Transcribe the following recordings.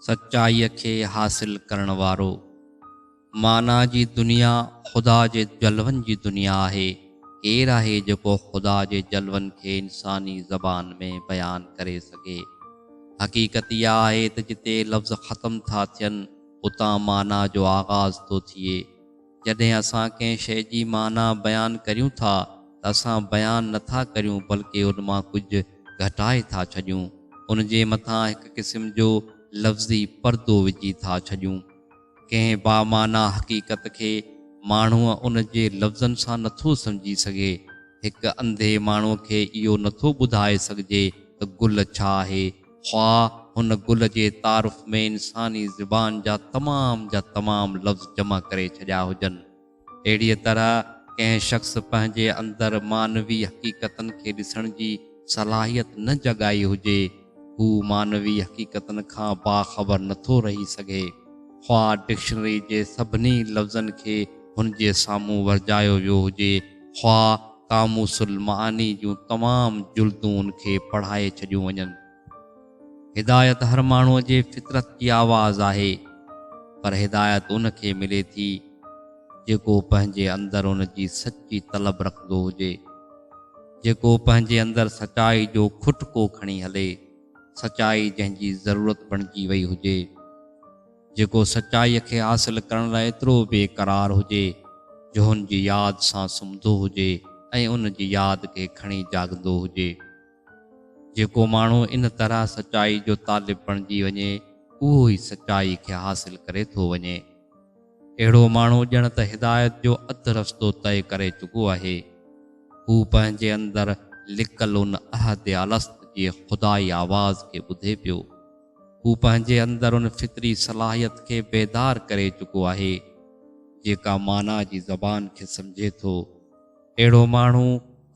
سچائيء کي حاصل ڪرڻ وارو، معنيٰ جي دنيا، خدا جي جلون جي دنيا آهي. ڪير آهي جيڪو خدا جي جلون کي انساني زبان ۾ بيان ڪري سگهي؟ حقيقت اها آهي ته جتي لفظ ختم ٿا ٿين، اتان معنيٰ جو آغاز ٿو ٿئي. جڏهن اسان ڪنهن شيء جي معنيٰ بيان ڪريون ٿا ته اسان بيان نه ٿا ڪريون بلڪه ان مان ڪجهه گهٽائي ٿا ڇڏيون، ان جي مٿان هڪ قسم جو لفظي پردو وجهي ٿا ڇڏيون. ڪنهن بامعنيٰ حقيقت کي ماڻهو ان جي لفظن سان نه ٿو سمجهي سگهي. هڪ انڌي ماڻهو کي اهو نه ٿو ٻڌائي سگهجي ته گل ڇا آهي، خواه هن گل جي تعارف ۾ انساني زبان جا تمام جا تمام لفظ جمع ڪري ڇڏيا هجن. اهڙيء طرح ڪنهن شخص پنهنجي اندر معنوي حقيقتن کي ڏسڻ جي صلاحيت نه جڳائي هجي، هو معنوي حقيقتن کان باخبر نه ٿو رهي سگهي. خواه ڊڪشنري جي سڀني لفظن کي هن جي سامهون ورجايو ويو هجي خواه قاموس المعاني جون تمام جلدون ان کي پڙهائي ڇڏيون وڃن. هدايت هر ماڻهوء جي فطرت جي آواز آهي، پر هدايت ان کي ملي ٿي، جيڪو پنهنجي اندر ان جي سچي طلب رکندو هجي، جيڪو پنهنجي اندر سچائي جو کٽڪو کڻي هلي، سچائي جنهن جي ضرورت بڻجي وئي هجي. جيڪو سچائيء کي حاصل ڪرڻ لاء ايترو بي قرار هجي، جو هن جي ياد سان سمهندو هجي ۽ ان جي ياد کي کڻي جاڳندو هجي. جيڪو ماڻهو ان طرح سچائيء جو طالب بڻجي وڃي، اهو ئي سچائيء کي حاصل ڪري ٿو وڃي. اهڙو ماڻهو ڄڻ ته هدايت جو اڌ رستو طئي ڪري چڪو آهي. هو پنهنجي اندر لڪل ان احد الست جي خدائي آواز کي ٻڌي پيو. هو پنهنجي اندر ان فطري صلاحيت کي بيدار ڪري چڪو آهي، جيڪا معنيٰ جي زبان کي سمجهي ٿو. اهڙو ماڻهو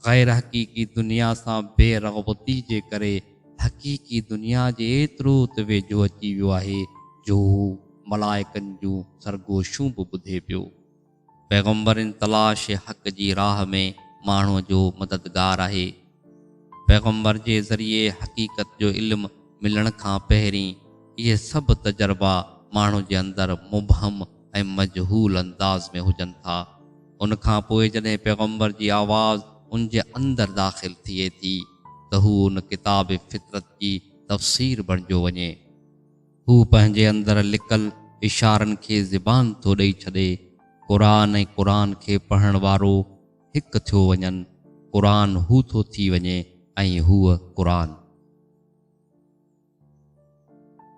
غير حقيقي دنيا سان بي رغبتي جي ڪري حقيقي دنيا جي ايترو ته ويجهو اچي ويو آهي، جو هو ملائڪن جون سرگوشيون به ٻڌي پيو. پيغمبرين تلاش حق جي راهه ۾ ماڻهو جو مددگار آهي. پيغمبر جي ذريعي حقيقت جو علم ملڻ کان پهرين اهي سڀ تجربا ماڻهو جي اندر مبهم ۽ مجهول انداز ۾ هجن ٿا. ان کان پوء جڏهن پيغمبر جي آواز ان جي اندر داخل ٿئي ٿي ته هو ان ڪتاب فطرت جي تفسير بڻجيو وڃي. هو پنهنجي اندر لڪل اشارن کي زبان ٿو ڏئي ڇڏي. قرآن ۽ قرآن کي پڙهڻ وارو هڪ ٿيو وڃن. قرآن هو ٿو ٿي وڃي ۽ هوء قرآن.